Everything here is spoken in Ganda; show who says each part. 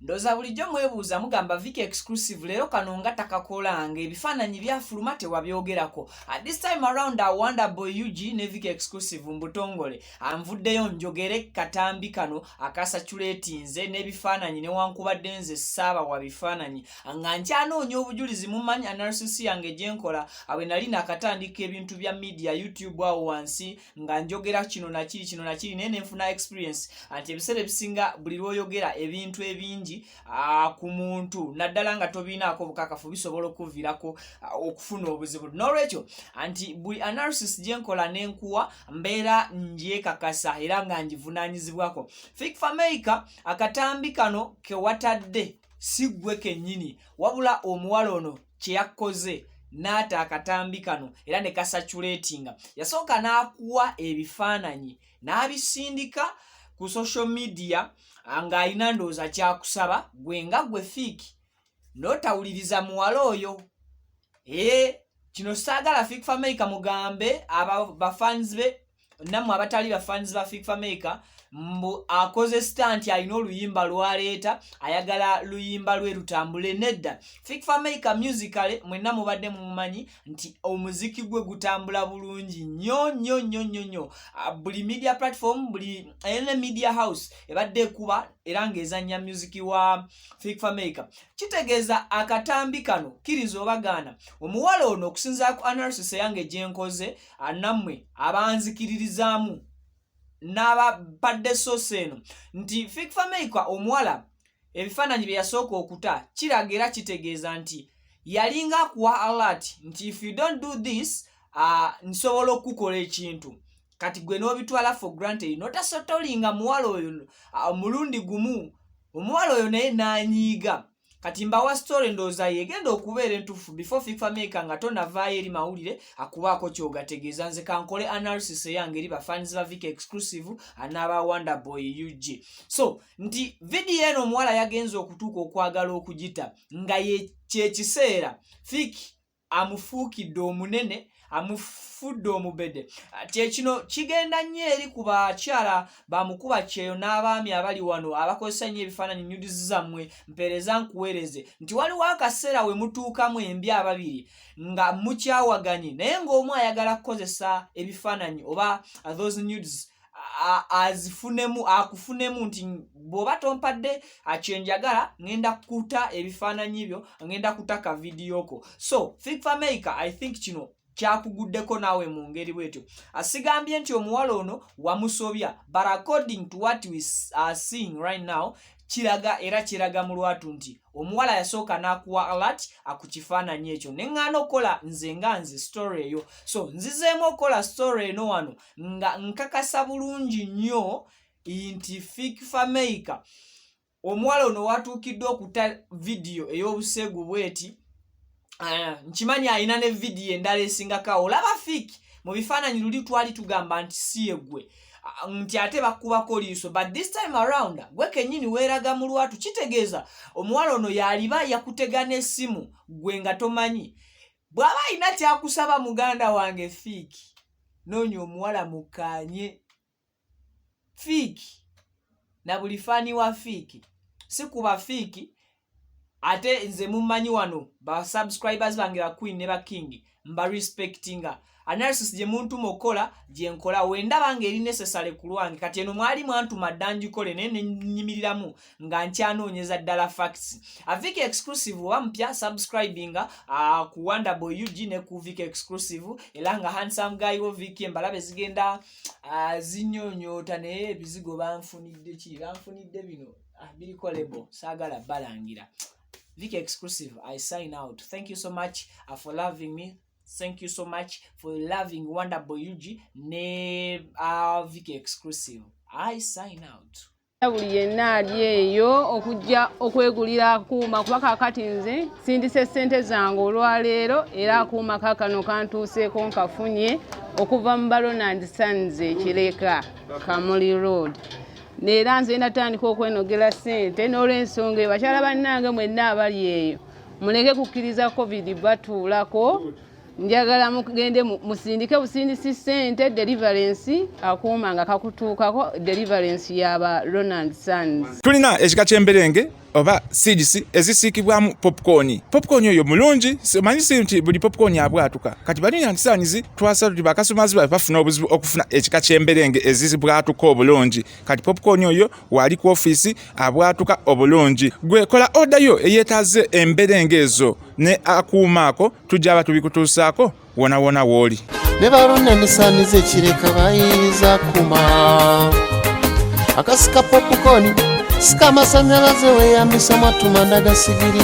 Speaker 1: ndoza bulijjo mwebuuza mugamba viki exclusive leero kano nga takakolanga ebifaananyi byafuluma tewabyogerako at this time around a wonder boy ug ne viki exclusive mbutongole anvuddeyo njogere katambi kano akasaculetinze n'ebifaananyi newankubadde nze saaba wa bifaananyi nga nkyanoonya obujulizi mumanyi analysis yange gyenkola awe nali nakatandika ebintu bya media youtube awo wansi nga njogera kino nakiri kino nakiri naye nenfuna experience anti ebiseera ebisinga buli lwoyogera ebintu ebingi ah, ku muntu naddala nga tobiinaako obukakafu bisobola okuvirako ah, okufuna obuzibu nolwekyo anti buli analysis gyenkola nenkuwa mbeera ngyekakasa era nga ngivunanyizibwako fik fameica akatambi kano kewatadde siggwe kennyini wabula omuwala ono kye yakkoze n'ata akatambi kano era ne kasaculatinga yasooka n'akuwa ebifaananyi n'abisindika ku social media ng'alina ndowooza kyakusaba gwe nga gwe fiiki n'otawuliriza muwala oyo ee kino saagala fiik fameyika mugambe aba bafanzi be nammwe abatali ba fans ba fik fameka mbu akoze stanti alina oluyimba lwaleeta ayagala luyimba lwe lutambule nedda fik fameka musicale mwenna mubadde mumumanyi nti omuziki gwe gutambula bulungi nyo nyo nyo nyo nyo ah, buli media platform buli ene media house ebadde ekuba era ng'ezanya musiki wa fik fameka kitegeeza akatambi kano kiriza obagaana omuwala ono okusinzira ku analysis eyange gyenkoze nammwe abanzikiririzaamu n'ababadde sosi eno nti fikfameika omuwala ebifaananyi bye yasooka okuta kiraga era kitegeeza nti yalinga akuwa alert nti if you don't do this uh, nsobola okukukola ekintu kati gwe n'obitwala for granted notasotolinga muwala oyo omulundi gumu omuwala oyo naye nanyiiga na kati mbawa story ndooza yegenda okubeera entufu before fifa maker nga tonavaayo eri mawulire akubaako kyogategeeza nze kankole analysis eyange eri bafans ba vika exclusive anaaba wonder boy ug so nti vidiyo eno omuwala yagenza okutuuka okwagala okugita nga kyekiseera fiki amufuukidde omunene amufudde omubede kyekino kigenda nnyo eri ku bakyala bamukuba kyeyo n'abaami abali wano abakozesa nnyo ebifaananyi nyudizi zammwe mpeereza nkuweereze nti waliwo akaseera we mutuukamu embi ababiri nga mukyawaganye naye ng'omu ayagala kukozesa ebifaananyi oba those nudes azifunemu akufunemu nti bwoba tompadde akyenjagala ngenda kuta ebifaananyi byo ngenda kuta ka vidiyo ko so think for america i think kino kyakuguddeko naawe mu ngeri bwetyo asigambye nti omuwala ono wamusobya but according to what we are seeing right now kiraga era kiraga mu lwatu nti omuwala yasooka n'akuwa alat akukifaananyi ekyo ne ŋŋaana okukola nze nga nze story eyo so nzizeemu okukola story eno wano nga nkakasa bulungi nnyo nti fik fameica omuwala ono watuukiddwa okuta vidiyo ey'obuseegu bweti ah, nkimanyi alina ne vidiyo endala esingako awo olaba fik mu bifaananyi luli twali tugamba nti si egwe nti ate bakubako liiso but this time around gwe kenyini weeraga mu lwatu kitegeeza omuwala ono yaliba yakutega n'essimu gwe nga tomanyi bw'aba alina kyakusaba muganda wange fiiki noonya omuwala mukkaanye fiiki na buli faani wa fiiki si kuba fiiki ate nze mummanyi wano ba subscribers bange ba queen ne ba king mba respectinga analysis gye muntuma okukola gye nkola wendaba nga eri necessary ku lwange kati eno mwali mwantuma dda ngikole naye nenyimiriramu nga nkyanoonyeza ddala facts avik exclusive oba mupya subscribinga uh, ku wonderboy ug ne ku vik exclusive era nga handsome guy wo vik embalabe zigenda uh, zinyonyoota naye ebizigo banfunidde ki banfunidde bino uh, ah, birikolebo saagala balangira vik exclusive i sign out thank you so much uh, for loving me thank you so much for loving wonderboy ug ne uh, viki exclusive i sign out buli yenna
Speaker 2: ali eyo okujja okwegulira akuuma kuba kakati nze sindise ssente zange olwaleero era akuuma kakano kantuuseeko nkafunye okuva mu balonand sons ekireka kamuli road neera nze natandika okwenogera ssente n'olwensonga eyo bakyala bannange mwenna abali eyo muleke kukkiriza covid batuulako njagala mugende musindike busindisi sente deliverance akuuma nga kakutuukako deliverance yaba ronald sons tulina ekika
Speaker 3: kyemberenge
Speaker 2: oba
Speaker 3: seeds ezisiikibwamu popcorn popcorn oyo mulungi manyi si nti buli popcorn abwatuka kati bali nyandisaanyizi twasala tuti bakasumaazi babe bafuna obuzibu okufuna ekika ky'emberenge ezizibwatuka obulungi kati popcorn oyo waali ku ofiisi abwatuka obulungi gwe kola oda yo eyeetaaze emberenge ezo ne akuuma ako tujja aba tubikutuusaako wonawona wooli ne balonda
Speaker 4: nesaaniza ekireka bayinza kuma akasika popcorn sika amasanyalaze weyambisa matumanda gasigiri